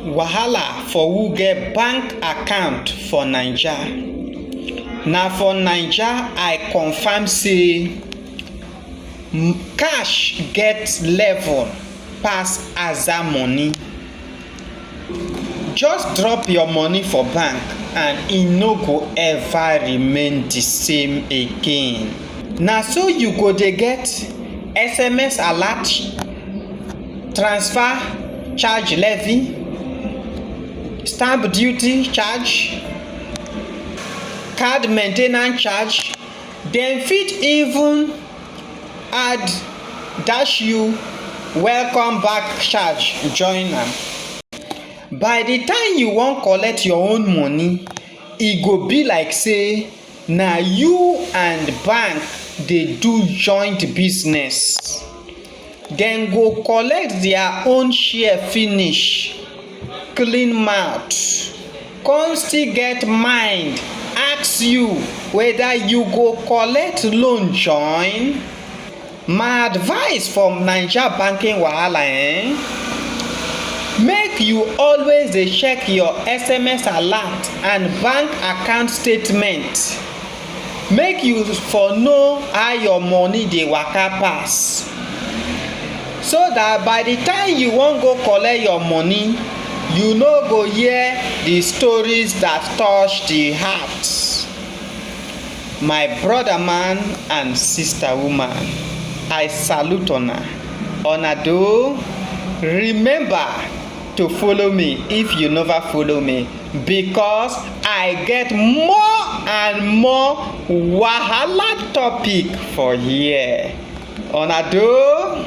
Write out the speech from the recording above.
Wahala for who get bank account for Naija. Na for Naija I confirm sey cash get level pass aza money. Just drop your money for bank and e no go ever remain de same again. Na so you go dey get sms alert. transfer charge levy stamp duty charge card maintenance charge dem fit even add dash you welcome back charge join am by the time you wan collect your own money e go be like say na you and bank dey do joint business. Dem go collect their own share finish clean mouth come still get mind ask you whether you go collect loan join. My advice for Naija banking wahala ehn, make you always dey check your SMS alert and bank account statement. Make you for know how your money dey waka pass so that by the time you wan go collect your money you no go hear the stories that touch the heart my brother man and sister woman I salute una una doh remember to follow me if you never follow me. because I get more and more wahala topic for here, una do?